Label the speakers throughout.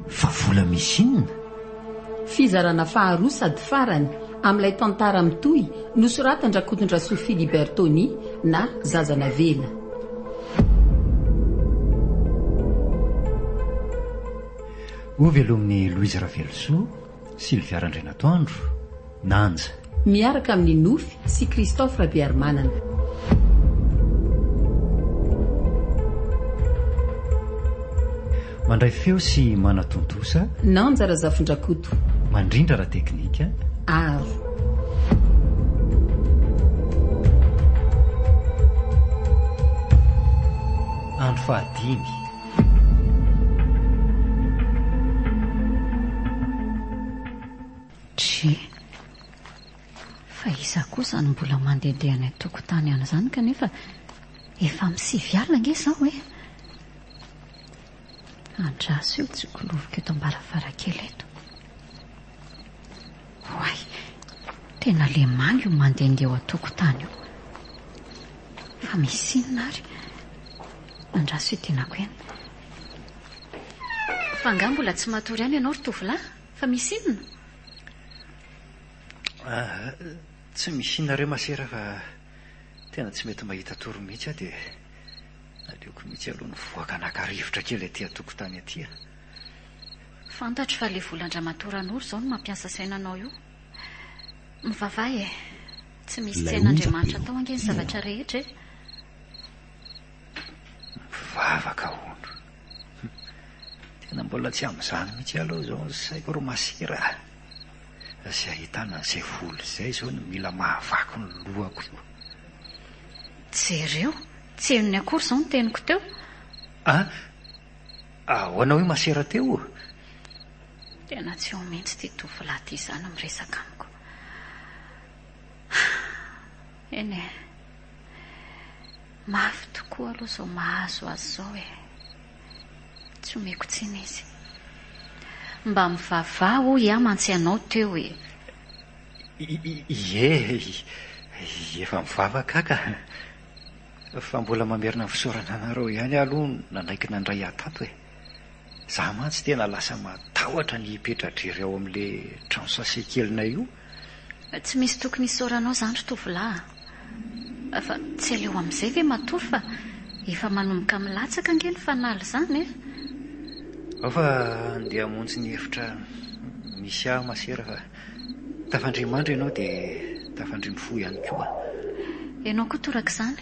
Speaker 1: Fa vola misy inona?
Speaker 2: Fizarana faharoa sady farany amin'ilay tantara mitohy nosoratan'Rakotondrasoa Philibert Tony na Zaza Navela.
Speaker 1: Ho velomin'i Louise Ravelosoa. Sylvia Randrianatoandro, Nanja. Miaraka amin'i
Speaker 2: Nofy sy Christophe Rabearimanana.
Speaker 1: Mandray feo sy manatontosa. Nanja
Speaker 2: Razafindrakoto. Mandrindra ara
Speaker 1: teknika. Aro. Andro fahadimy.
Speaker 3: Dry. Fa iza kosa no mbola mandehandeha any an-tokotany any izany kanefa efa amin'ny sivy alina ange izao e? Andraso io tsikoloviko eto am-baravarankely eto. Oay, tena lemano io mandehandeha eo an-tokotany io. Fa misy inona ary? Andraso ity nako eny. Fa angaha mbola tsy matory any ianao ry tovolahy? Fa misy inona?
Speaker 1: Ah, tsy misy inona re masera fa tena tsy mety mahita tory mihitsy aho dia aleoko mihitsy aloha nivoaka naka rivotra kely aty an-tokotany aty.
Speaker 3: Fantatro fa le volan-dramatoa Ranoro zao no mampiasa saina anao io. Mivavaha e! Tsy misy tsy hain'Andriamanitra tao ange ny zavatra rehetra e!
Speaker 1: Mivavaka hono. Tena mbola tsy amin'izany mihitsy aloha izao ny saiko ry masera a! Fa izay ahitana an'izay vola izay izao no mila mahavaky ny lohako io. Jereo!
Speaker 3: Tsy henony akory izao ny teniko teo. A!
Speaker 1: Ahoana hoy masera teo?
Speaker 3: Tena tsy eo mihitsy ity tovolahy ity izany miresaka amiko. Eny e, mafy tokoa aloha izao mahazo azy izao e. Tsy omeko tsiny izy. Mba mivavaha hoy aho mantsy ianao teo e. Ie,
Speaker 1: efa mivavaka aho ka. Fa mbola mamerina ny fisaorana anareo ihany aho aloha nanaiky nandray ahy tato e! Za mantsy tena lasa matahotra ny hipetra-drery ao amin'le trano sase kelinay io. Tsy misy
Speaker 3: tokony hisaoranao zany ry tovolahy a! Fa tsy aleo amin'izay ve matoa fa efa manomboka milatsaka ange ny fanala izany e! Ao
Speaker 1: fa andeha hamonjy ny efitra misy ahy masera fa. Tafandry mandry ianao dia tafandry mifoha ihany koa. Ianao
Speaker 3: koa torak'izany.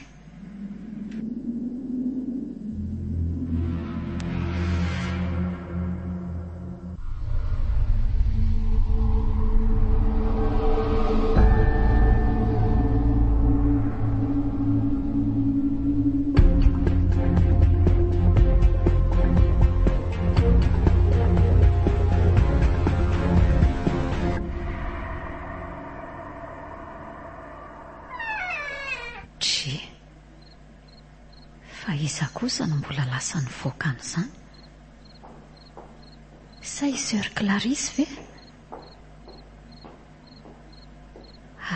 Speaker 3: Tchie! Fa iza kosa no mbola lasa nivoaka an'izany? Sa i Soeur Clarisse ve?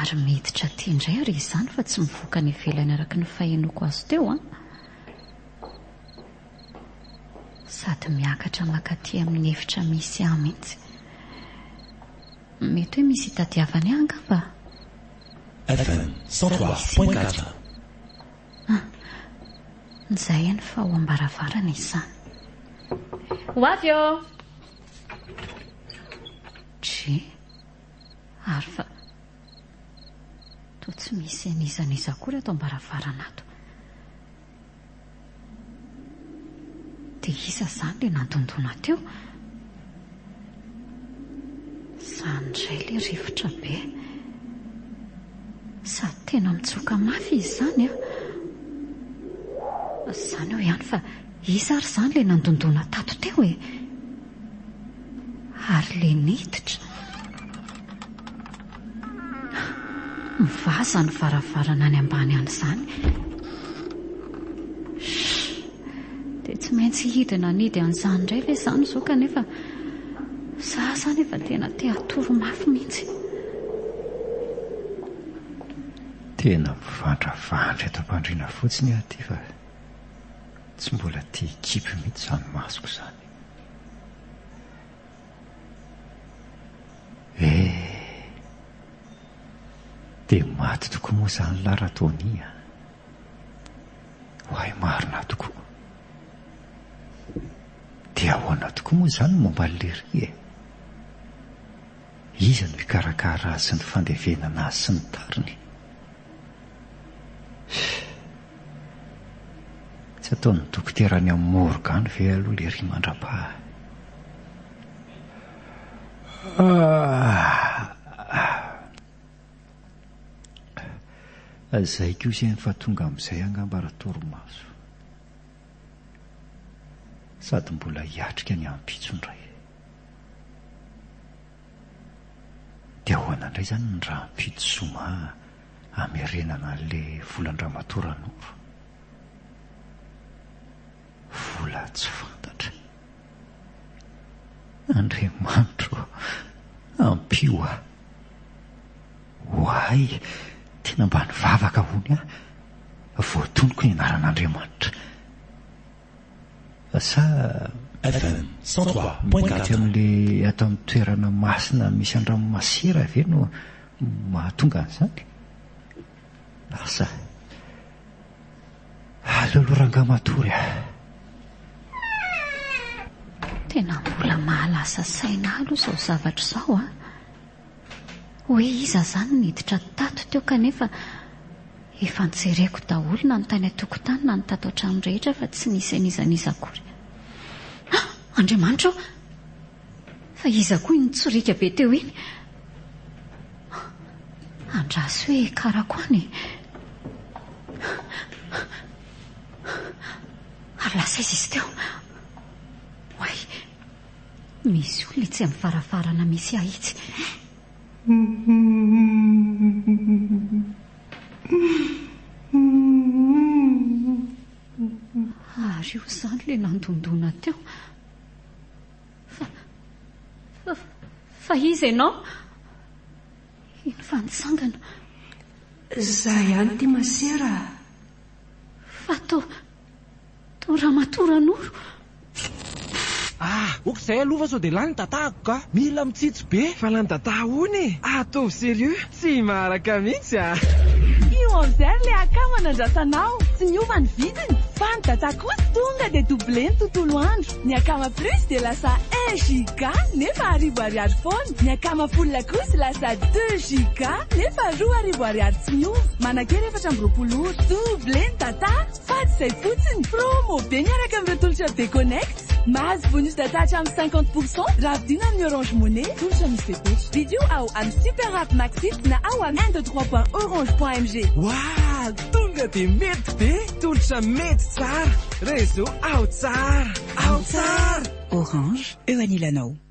Speaker 3: Ary miditra aty indray àry izany fa tsy mivoaka any ivelany araka ny fahenoako azy teo an! Sady miakatra mankaty amin'ny efitra misy ahy mihitsy. Mety hoe misy itadiavany ahy angamba? Fm cent
Speaker 4: trois point quatre. Ah!
Speaker 3: Nizay eny fa ao am-baravarana izany. Ho avy eo! Dry! Ary fa toa tsy misy an'iza n'iza akory ato am-baravarana ato. Dia iza izany ilay nandondona teo? Izany indray ilay rivotra be. Sady tena mitsoka mafy izy izany an! Izany eo ihany fa iza ary izany ilay nandondona tato teo e? Ary ilay niditra? Mivaza ny varavarana any ambany any izany. Dia tsy maintsy hidina hanidy an'izany indray ve izany izao kanefa za izany efa tena te hatory mafy mihitsy.
Speaker 1: Tena mivandravandra eto am-pandriana fotsiny aho ity fa tsy mbola te-hikipy mihitsy izany masoko izany. Eh! Dia maty tokoa moa izany lahy Ratoni a! Oay marina tokoa. Dia ahoana tokoa moa izany ny momba an'i Lery e? Iza no hikarakara azy sy ny fandevenana azy sy ny tariny? Tsy ataon'ny dokotera any amin'ny morgue any ve aloha Lery mandrapaha? Zay koa zay fa tonga amizay angamba ratorimaso sady mbola hiatrika ny ampitso ndray de ahoana ndray zany ny rahampitso zoma hamerenana anle volandramatoa ranoro vola tsy fantatra Andriamanitro ô, ampio ahy. Ho ahy, tena mba nivavaka hono aho, voatonoko ny anaran'Andriamanitra. Sa. FM,
Speaker 4: cent trois point quatre. Ety amin'ilay
Speaker 1: ato amin'ny toerana masina misy andranomasera ve no mahatonga an'izany? Asa. Alolo rangah matory ah.
Speaker 3: Tena mbola mahalasa saina alo izao zavatra izao a. Hoe iza izany niditra tato teo kanefa efa njereko daholo na ny tany an-tokotany na ny tato an-trano rehetra fa tsy nisy an'iza n'iza akory. Ah, Andriamanitra o! Fa iza koa iny nitsoriaka be teo iny? Andraso hoe karako any e! Ary lasa aiza izy teo? Oay! Misy olona etsy amin'ny varavarana misy ahy itsy. Ary io izany ilay nandondona teo. Fa, fa, fa iza ianao? Iny fa nitsangana.
Speaker 5: Izaho ihany ity masera a.
Speaker 3: Fa to, to ramatoa Ranoro. Ah,
Speaker 6: ok izay aloha fa sao dia lany ny datako ka. Mila mitsitsy be. Fa lany dada hono e. Ataovy serieux. Tsy maharaka mihitsy ah. Io Enzer
Speaker 5: le akama nandrasanao tsy niova ny vidiny fa ny data kosa tonga dia double ny tontolo andro, ny akama plus dia lasa un giga nefa arivo ariary foana, ny akama full kosa lasa deux giga nefa roa arivo ariary tsy miova, manankery efatra amby roapolo ora, double ny data. Fa tsy izay fotsiny, promo be miaraka amin'ireo tolotra Be Connect. Mahazo bonus data hatramin'ny cinquante pour cent raha vidiana amin'ny Orange Money, tolotra misy fepetra. Vidio ao amin'ny Super App Maxit na ao amin'ny un deux trois point orange point mg. Wah!
Speaker 6: Tonga dia mety be! Tolotra mety tsara! Réseau ao tsara! Ao tsara! Orange,
Speaker 7: eo anilanao.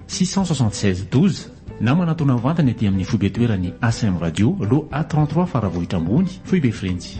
Speaker 4: 676 12 na manatona mivantana ety amin'ny foibe toeran'ny ACM Radio, lo A trente trois Faravohitra Ambony, Foibe Frenjy.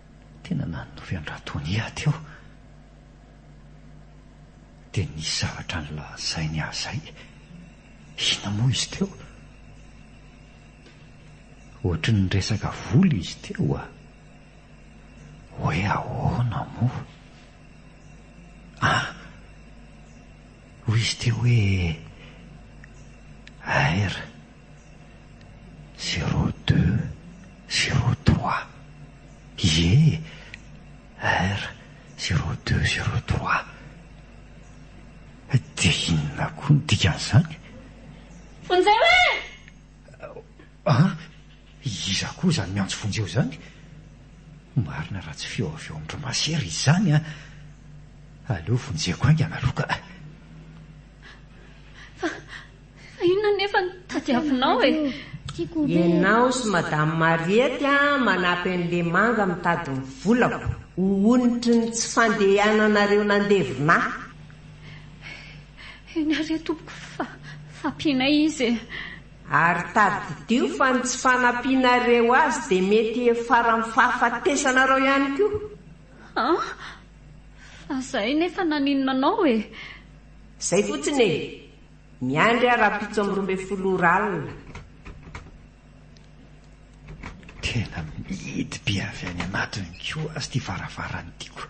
Speaker 1: Tena nanohy an-dRatonia teo dia nisy zavatra nolazainy ahy izay. Inona moa izy teo? Ohatry ny niresaka vola izy teo a! Hoe ahoana moa? Ah! Hoy izy teo hoe, Air Zero deux, zero trois. Ie er zero deux, zero trois. Dia inona koa ny dikan'izany? Vonjeo e! An! Iza koa
Speaker 5: izany miantso
Speaker 1: Vonjeo izany? Marina raha tsy feo avy ao amin-dry Masera izany an! Aleo vonjeko haingana aloha ka!
Speaker 3: Fa inona anefa no tadiavinao e? Ianao
Speaker 8: sy Madame Mariette manampy an'i Lemanga mitady ny volako ho onitry ny tsy fandehananareo nandevona ahy.
Speaker 3: Eny ary tompoko fa fampianay izy e! Ary
Speaker 8: tadidio fa ny tsy fanampianareo azy dia mety hiafaran'ny fahafatesanareo ihany koa. An!
Speaker 3: Fa izahay nefa naninona anao e? Izay
Speaker 8: fotsiny e! Miandry aho rahampitso amby roa ambin'ny folo ora alina.
Speaker 1: Tena mihidy be avy any anatiny ko azy ty varavarany tiko.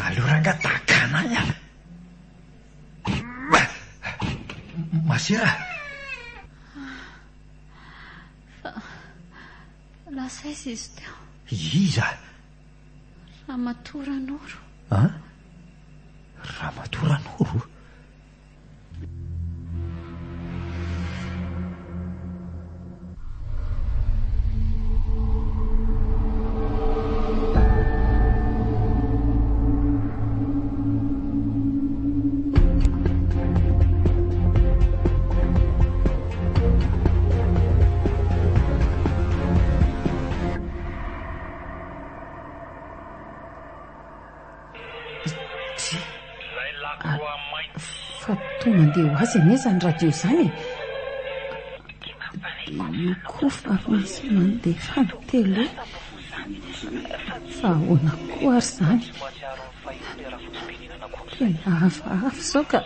Speaker 1: Aleo ranga takana any ala. Masera. Fa
Speaker 3: lasa izy izy teo. Iza?
Speaker 1: Ramatoa
Speaker 3: Ranoro. An?
Speaker 1: Ramatoa Ranoro?
Speaker 2: Fa toa mandeha ho azy anie izany radio izany e. Io koa fa misy mandeha fany tele. Fa ahoana koa ary izany? Tena hafahafa izao ka.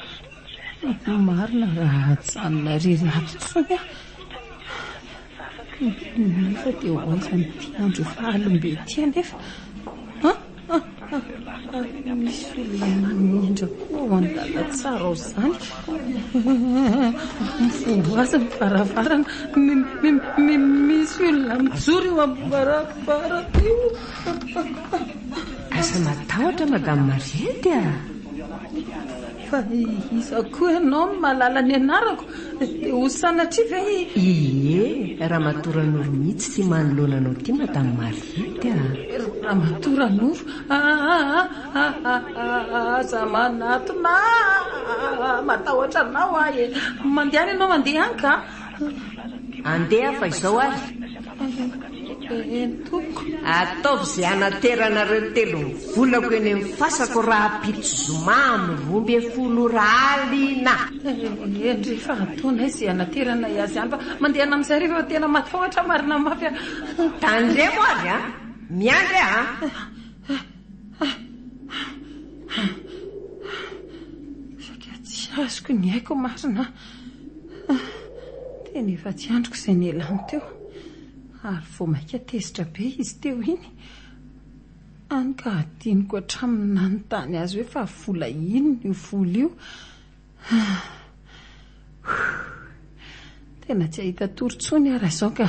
Speaker 2: Marina raha hajanona irery ato intsony aho. Vavaka ny teniny anefa dia ho aiza amin'ity andro fahalim-be ity anefa? Ha! ha! ha! ary misy olona manendra koa ao an-dalantsara ao izany. Mivoaza ny varavarana, misy olona mijoro eo amin'ny varavarana io. Aza
Speaker 8: matahotra Madame Mariette a!
Speaker 2: Fa iza koa ianao no mahalala ny anarako? Dia ho sanatria ve i. Ie,
Speaker 8: Ramatoa Ranoro mihitsy ity manoloana anao ity Madame Mariette a! Ramatoa
Speaker 2: Ranoro, aza manatona ahy, matahotra anao aho e! Mandehana ianao mandeha any ka!
Speaker 8: Andeha aho fa izao ary. Eehh
Speaker 2: tompoko. Ataovy izay
Speaker 8: hanateranareo telo ny volako eny amin'ny fasako rahampitso zoma amin'ny roa ambin'ny folo ora alina. Eehh ndry
Speaker 2: efa ataonay izay hanateranay azy any fa mandehana amin'izay rehefa efa tena matahotra marina mafy aho. Tandremo
Speaker 8: ary an! Miandry aho
Speaker 2: an! Saika tsy azoko ny aiko marina an! Tena efa tsy andriko izay nialany teo. Ary vao mainka tezitra be izy teo iny, hany ka hadinoko hatramin'ny nanontany azy hoe fa vola inona io vola io. Tena tsy hahita tory intsony aho raha izao ka!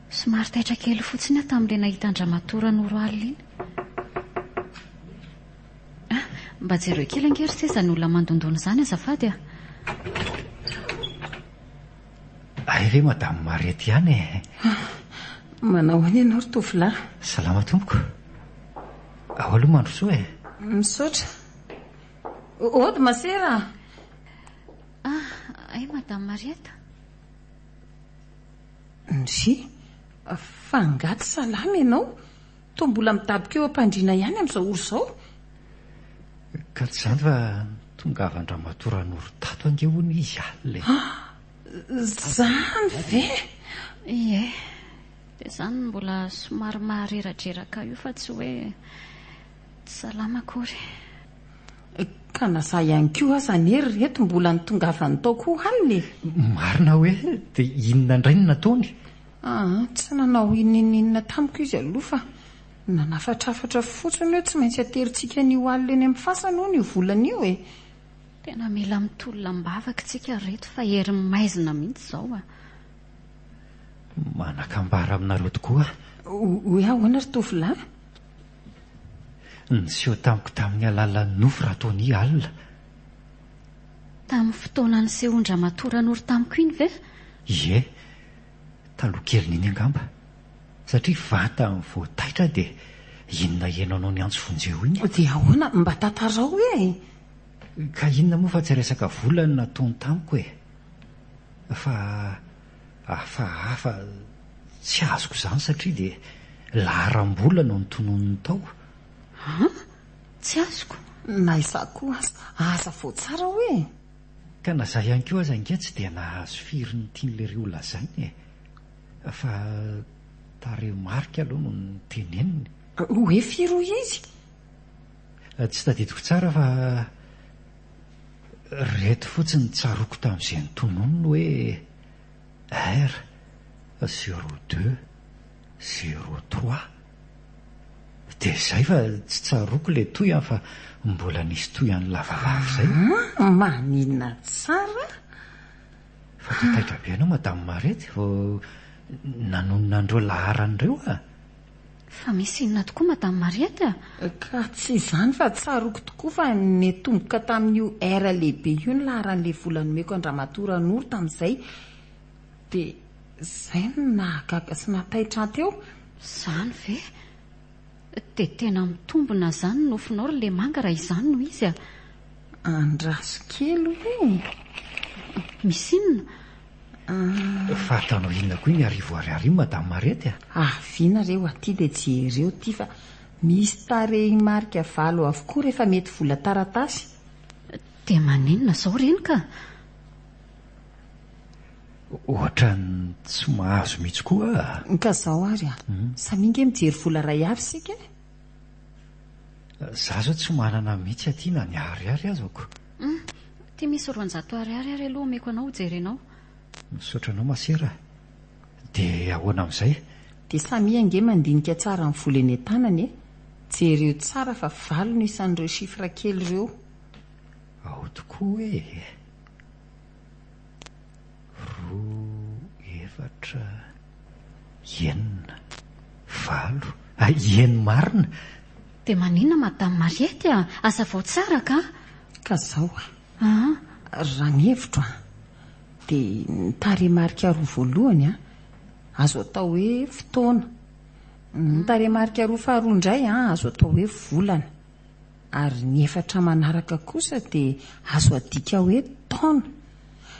Speaker 3: Somary taitra kely fotsiny aho tamin'ilay nahita an-dramatoa Ranoro alina iny. Ah, mba jereo kely ange ry se izany olona mandondona izany azafady ah.
Speaker 1: Hay ve madame Marety ihany e. Ah,
Speaker 2: manao ahoana ianao ry tovolahy? Salama tompoko.
Speaker 1: Ao aloha mandrosoa e. Misaotra.
Speaker 2: Ody masera. Ah,
Speaker 3: hay madame Mariette.
Speaker 2: MJ, Fa angaha tsy salama ianao? Toa mbola midaboka eo am-pandriana ihany amin'izao ora izao?
Speaker 1: Ka tsy izany fa tongavan-dramatoa Ranoro tato ange hono izy alina e! Ah! Izany
Speaker 2: ve? Ie,
Speaker 3: dia izany no mbola somary mahareradreraka ahy io fa tsy hoe tsy salama akory.
Speaker 2: Ka na za ihany koa aza anie ry reto mbola ny tongavany
Speaker 1: tao
Speaker 2: koa
Speaker 1: hanina e!
Speaker 2: Marina
Speaker 1: hoe
Speaker 2: dia
Speaker 1: inona
Speaker 2: indray
Speaker 1: no nataony? Aa,
Speaker 2: tsy nanao inoninona tamiko izy aloha fa nanafatrafatra fotsiny hoe tsy maintsy aterintsika an'io alina eny amin'ny fasana hono io volana io e! Tena
Speaker 3: mila mitolona am-bavaka isika ry reto fa herin'ny maizina mihitsy izao a!
Speaker 1: Manakambara aminareo tokoa aho. Hoe
Speaker 2: ahoana ry tovolahy?
Speaker 1: Niseho tamiko tamin'ny alalan'ny nofo Ratoni alina.
Speaker 3: Tamin'ny fotoana nisehoan-dRamatoa Ranoro tamiko iny ve? Ie,
Speaker 1: taloha kelin'iny angamba. Satria vantany vao taitra dia inona heno anao niantso vonjeo iny? Dia ahoana? Mba
Speaker 2: tantarao e! Ka
Speaker 1: inona moa fa tsy resaka vola no nataony tamiko e! Fa. Hafahafa, Tsy azoko izany satria dia laharam-bola no notononiny tao. An!
Speaker 3: Tsy azoko, na izaho koa
Speaker 2: aza. Aza vao tsara hoe e! Ka na izaho
Speaker 1: ihany koa aza ange tsy dia nahazo firy ny tian'lery holazainy e! Fa tarehimarika aloha no noteneniny. Hoe firy
Speaker 2: hoy izy?
Speaker 1: Tsy tadidiko tsara fa. Ireto fotsiny ny tsaroako tamin'izay notononiny hoe R zéro deux zéro trois. Dia izay fa tsy tsaroako ilay toy an fa mbola nisy toy an'i Lavavavy izay. Aa! Maninona
Speaker 2: tsara?
Speaker 1: Fa dia taitra be ianao Madame Marety vao nanonona an'ireo laharana ireo an! Fa misy
Speaker 3: inona tokoa Madame Mariette a? Ka tsy izany
Speaker 2: fa tsaroako tokoa fa niatomboka tamin'io heure lehibe io ny laharan'ilay vola nomeko an-dramatoa Ranoro tamin'izay. Dia izay no nahagaga sy nahataitra ahy teo. Izany ve?
Speaker 3: Dia tena mitombina izany ny nofinao ry Lemanga raha izany no izy a! Andraso
Speaker 2: kely hoe.
Speaker 3: Misy inona? Ah.
Speaker 1: Fa ataonao inona koa iny arivo ariary io madame Marety a? Aviana re ho aty
Speaker 2: dia jereo ity fa misy tarehimarika valo avokoa rehefa mety vola taratasy. Dia
Speaker 3: maninona izao reny ka?
Speaker 1: Ohatran'ny tsy mahazo mihitsy koa ah. Ka izao ary a.
Speaker 2: Samia ange mijery vola iray avy isika e.
Speaker 1: Za zao tsy manana mitsy aty na ny ariary aza ko. Hum, aty
Speaker 3: misy roanjato ariary ary aloha omeko anao hojerenao. Misaotra anao
Speaker 1: masera a. Dia ahoana amin'izay? Dia samia
Speaker 2: ange mandinika tsara ny vola eny an-tanany e! Jereo tsara fa valo no isan'ireo chiffres kely ireo. Ao
Speaker 1: tokoa e! Roa, efatra, enina, valo, eny marina! Dia maninona
Speaker 3: madame Mariette a! Hazavao tsara ka! Ka zao
Speaker 2: a! Aa! Raha ny hevitro a! dia ny tarehimarika roa voalohany a! azo atao hoe fotoana, ny tarehimarika roa faharoa indray a! azo atao hoe volana. Ary ny efatra manaraka kosa dia azo adika hoe taona.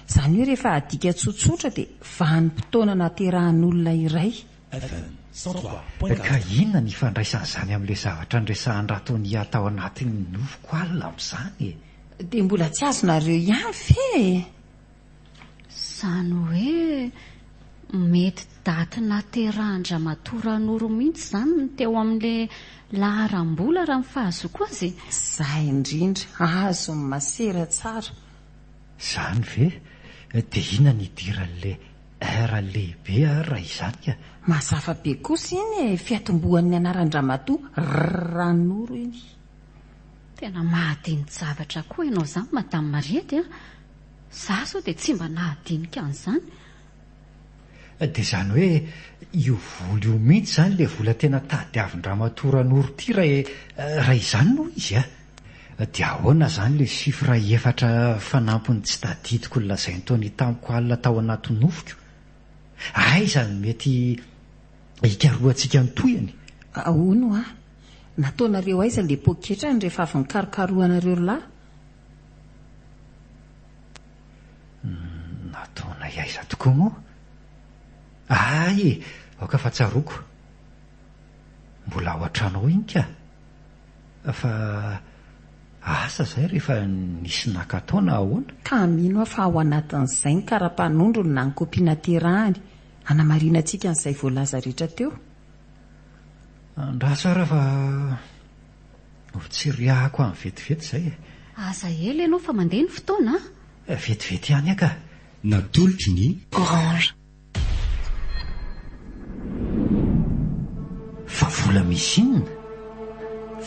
Speaker 2: Izany hoe rehefa adika tsotsotra dia vanim-potoana naterahan'olona iray. Fm. Cent trois point Ka
Speaker 1: quatre. inona ny ifandraisan'izany amin'ilay zavatra niresahan-dRatonia tao anatin'ny nofiko alina amin'izany e? Dia mbola
Speaker 2: tsy azonareo ihany ve e?
Speaker 3: Izany hoe mety daty naterahan-dRamatoa Ranoro mihitsy izany ny teo amin'ilay laharam-bola raha ny fahazoako azy e! Izay indrindra
Speaker 2: azo ny masera tsara. Izany
Speaker 1: ve? Dia inona ny idiran'ilay R lehibe ary raha izany ka? Mazava be kosa
Speaker 2: iny e! Fiatombohan'ny anaran-dRamatoa Ranoro iny. Tena
Speaker 3: mahadini-javatra koa ianao izany Madame Mariette a! Za zao dia tsy mba nahadinika an'izany eh.
Speaker 1: Dia izany hoe io vola io mihitsy izany ilay vola tena tadiavin-dramatoa Ranoro ty raha raha izany no izy ah. Dia ahoana izany ilay chiffre efatra fanampiny tsy tadidiko nolazain'i Tony tamiko alina tao anaty nofiko? Aiza no mety hikarohantsika ny tohiny? Ahoana hoa?
Speaker 2: Nataonareo aiza ilay poketrany rehefa avy nikarokarohanareo lahy?
Speaker 1: Nataonay aiza tokoa moa? Aay e! Aoka fa tsaroako. Mbola ao an-trano ao iny ka. Fa asa izay rehefa nisy naka tao na ahoana? Ka mino aho fa ao
Speaker 2: anatin'izay ny kara-panondrony na ny kopia naterahany hanamarinantsika an'izay voalaza rehetra teo.
Speaker 1: Andraso ary aho fa. Ho tsiriahako any vetivety izay e! Aza ela
Speaker 3: ianao fa mandeha ny fotoana a! Vetivety ihany
Speaker 1: aho ka!
Speaker 9: Natolotry
Speaker 1: ny.
Speaker 10: Orange.
Speaker 1: Fa vola misy inona?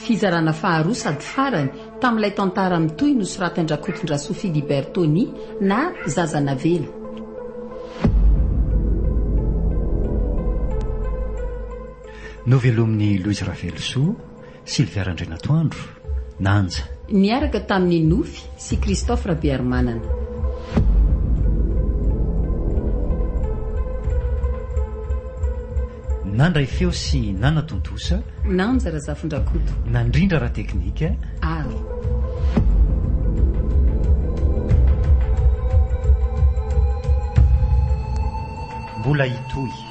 Speaker 2: Fizarana faharoa sady farany tamin'ilay tantara mitohy nosoratin-dRakotondrasoa Philibert Tony na Zaza Navela.
Speaker 1: Novelomin'i Louise Ravelosoa, Sylvia Randrianatoandro, Nanja. Niaraka tamin'i
Speaker 2: Nofy sy Christophe Rabearimanana.
Speaker 1: Nandray feo sy nanatontosa. Nanja
Speaker 2: Razafindrakoto. Nandrindra ara-teknika.
Speaker 1: Ary. Mbola hitohy.